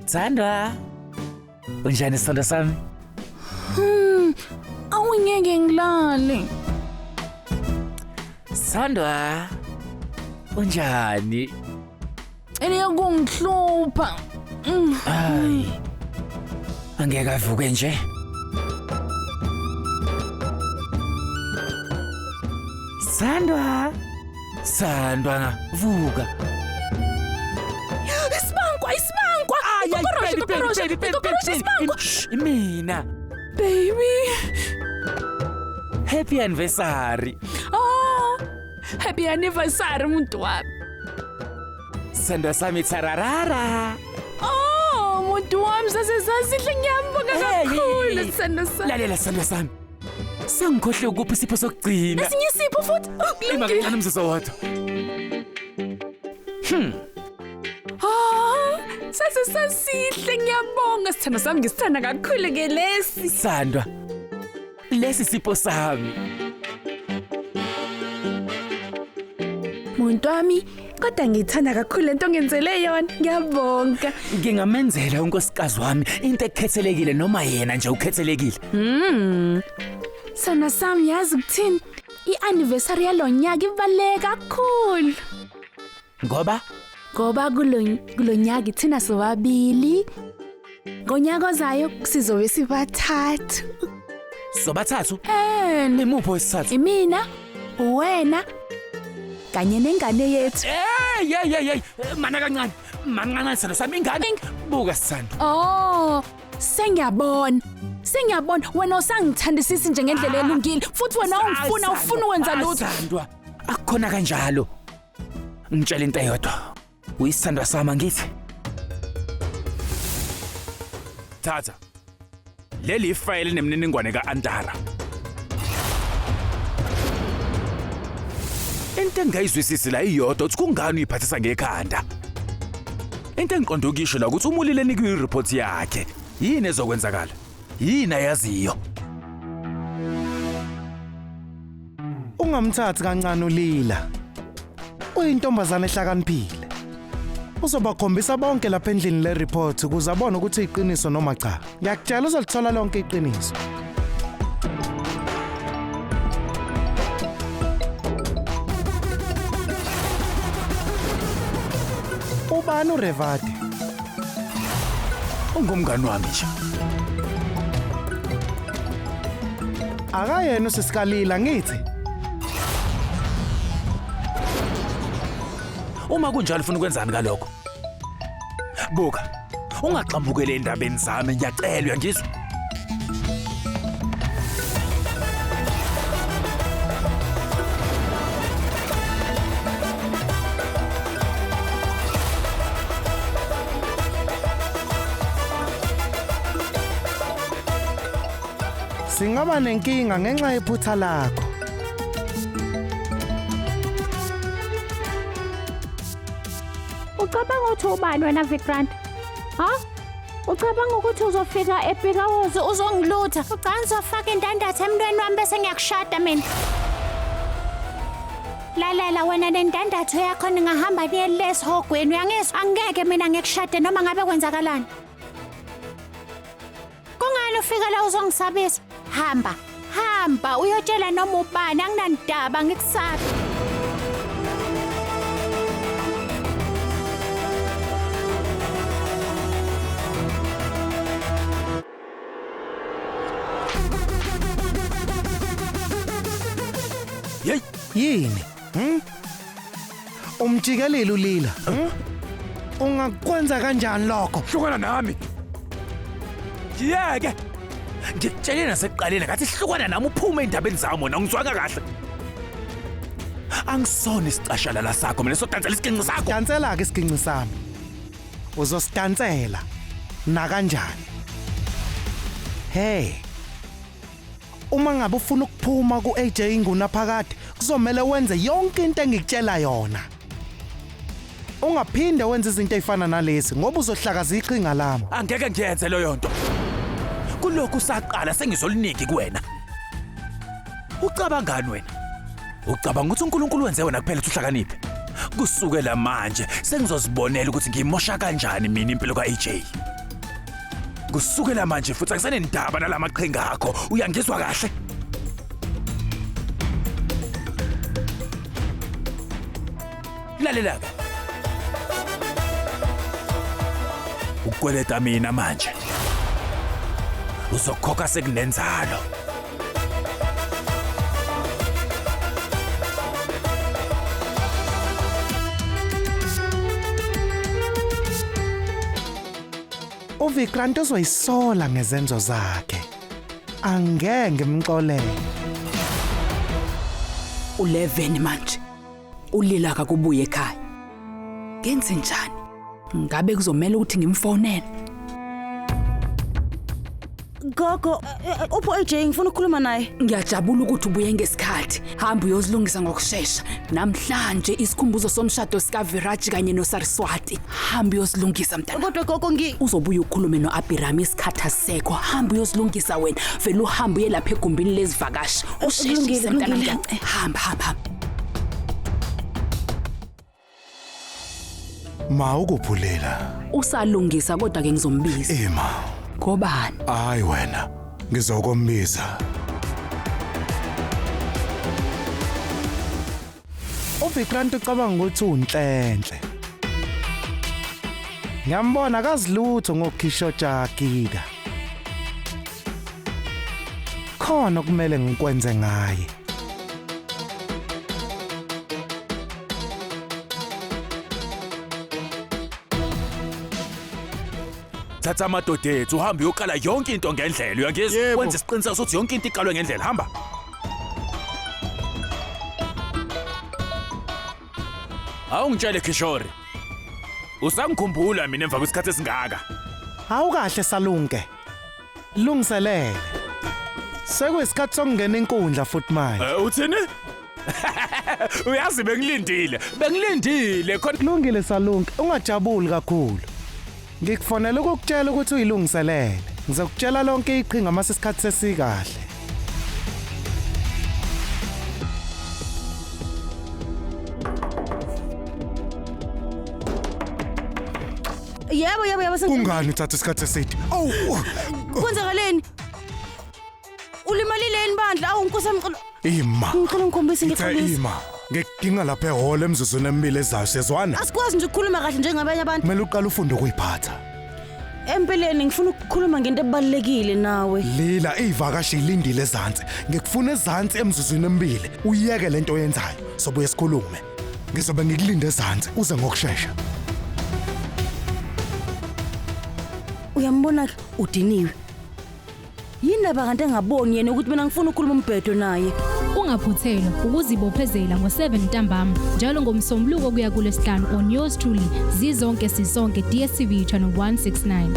Sandra, unjani sithandwa sami? Hmm, awungeke ngilale. Sandra, unjani? Eliya kungihlupha. Mm. Hayi. Angeke avuke nje. Sandwa. Sandwa nga vuka. Isibankwa, isibankwa. Ikokoroshi, ikokoroshi, ikokoroshi, isibankwa. Imina. Baby. Happy anniversary. Happy anniversary muntu wami. Sendo sami tsararara. Oh, muntu wami sasesasihle ngiyambonga Hey. kakhulu sendo sami. Lalela sendo sami. Sengikhohle ukuphi isipho sokugcina. Esinye isipho futhi. Oh, Ima kulungile. kancane umzuzu owodwa. Ah, sasesasihle ngiyambonga sithando sami ngisithanda kakhulu ke lesi. Sandwa, Lesi sipho sami. Muntu wami, kodwa ngithanda kakhulu lento ongenzele yona. Ngiyabonga. Ngingamenzela unkosikazi wami into ekhethelekile noma yena nje ukhethelekile. Mm. Sana sami yazi ukuthini? I-anniversary yalonyaka ibaleka kakhulu. Ngoba ngoba kulo- kulo nyaka ithina sobabili ngonyaka ozayo sizobe sibathathu sobathathu and imuphi wesithathu? imina uwena kanye nengane yethu Hey, hey, hey, hey. Mana kancane. Mana kancane sithando sami ingane. Buka sithando. oh sengiyabona sengiyabona wena usangithandisisi nje ngendlela elungile futhi wena ungifuna ufuna ukwenza lutho Asandwa. Akukhona kanjalo. Ngitshela into eyodwa. Uyisithandwa sami ngithi. Thatha. Leli ifayile nemininingwane ka-Antara. Into engayizwisisi la iyodwa ukuthi kungani uyiphathisa ngekhanda. Into engiqonda ukuyisho la ukuthi umulile nikwe i-report yakhe. Yini ezokwenzakala? Yini ayaziyo? Ungamthathi kancane ulila. Uyintombazane ehlakaniphile. Uzobakhombisa bonke lapha endlini le report ukuze abone ukuthi iqiniso noma cha. Ngiyakutshela uzolithola lonke iqiniso. Ubani uRevati? Ungumngani wami nje. Akayena usisikalila ngithi. Uma kunjalo ufuna ukwenzani ngalokho? Buka. Ungagxambukele endabeni zami ngiyacelwa ngizwe. Singaba nenkinga ngenxa yephutha lakho. Ucabanga ukuthi ubani wena Vikrant? Ha? Ucabanga ukuthi uzofika ePikawozi uzongilutha? Ucabanga uzofaka indandatho emntweni wami bese ngiyakushada mina? Lalela wena nendandatho yakho ningahamba niye lesihogweni uyangizwa angeke mina ngikushade noma ngabe kwenzakalani Kungani ufike la uzongisabisa? Hamba, hamba uyotshela noma ubani anginandaba ngikusabi. Yini? Hmm? Umjikelile ulila. Hmm? Ungakwenza kanjani lokho? Hlukana nami. Yeke. Ngitshele nasekuqaleni ngathi hlukana nami uphume endabeni zami wena ngizwanga kahle. Angisona isicashalala sakho mina sodansela isiginci sakho. Dansela ke isiginci sami. Uzosidansela nakanjani? Hey. Uma ngabe ufuna ukuphuma ku-AJ Ngunaphakade kuzomele wenze yonke into engikutshela yona. Ungaphinde wenze izinto ezifana nalezi ngoba uzohlakaza iqhinga lami. Angeke ngiyenze leyo nto. Kulokhu saqala sengizoliningi kuwena. Ucabangani wena? Ucabanga ukuthi uNkulunkulu wenze wena kuphela ukuthi uhlakaniphe? Kusukela manje sengizozibonela ukuthi ngimosha kanjani mina impilo ka-AJ. kusukela manje futhi angisenendaba nalamaqhinga akho uyangizwa kahle lalela-ke ukukweleta mina manje uzokhokha sekunenzalo uvikrant uzoyisola ngezenzo zakhe angeke ngimxolele u-11 manje ulila kakubuye ekhaya ngenze njani ngabe kuzomela ukuthi ngimfonele Gogo, eh, eh, upho AJ ngifuna ukukhuluma naye. Ngiyajabula ukuthi ubuye ngesikhathi. Hamba uyozilungisa ngokushesha. Namhlanje isikhumbuzo somshado sika Viraj kanye no Saraswati. Hamba uyozilungisa mntana. Kodwa gogo ngi Uzobuya ukhulume no Abhiram isikhathi asekho. Hamba uyozilungisa wena. Vele uhambe uye lapha egumbini lezivakashi. Usheshise kulungile, mntana kulungile. mntana. Hamba hamba. hamba. Ma ukuphulela. Usalungisa kodwa ke ngizombiza. Ema. Ngobani? Hayi wena. Ngizokombiza. UVikrant ucabanga ukuthi unhlenhle. Ngiyambona akazilutho ngokhisho jakika. Khona okumele ngikwenze ngaye. thatha amadoda ethu uhambe uyokala yonke into ngendlela uyangizwa Yebo. wenza isiqiniseko sokuthi yonke into iqalwe ngendlela hamba awungitshele kishori usangikhumbula mina emva kwesikhathi esingaka Hawu kahle salunge. Lungiselele. Sekuyisikhathi sokungena inkundla futhi manje. Eh, uthini? Uyazi bengilindile. Bengilindile khona Kulungile Salunke, ungajabuli kakhulu. Ngikufonela ukukutshela ukuthi uyilungiselele. Ngizokutshela lonke iqhinga uma sesikhathi sesikahle. Yebo yebo yebo sengiqedile. Kungani uthatha isikhathi eside? Awu. Kwenzakaleni? Ulimalile yini bandla? Awu nkosi yami ngicela Ima. ngicela ngikhombise Ngithe ngikhombise. ima. Ngikudinga lapha ehholo emzuzwini emibili ezayo siyezwana. Asikwazi nje ukukhuluma kahle njengabanye abantu. Kumele uqale ufunde ukuyiphatha. Empeleni ngifuna ukukhuluma ngento ebalekile nawe. Lila ivakashi ilindile ezantsi. Ngikufuna ezantsi emzuzwini emibili. Uyeke lento oyenzayo. Sobuye sikhulume. Ngizobe ngikulinda ezansi uze ngokushesha. Uyambona ke udiniwe. Yindaba kanti engaboni yena ukuthi mina ngifuna ukukhuluma umbhedo naye. Ungaphuthelwa ukuzibophezela ngo-7 ntambama njalo ngomsombuluko kuya kulesihlanu on yours truly zizonke sisonke DStv channel 169.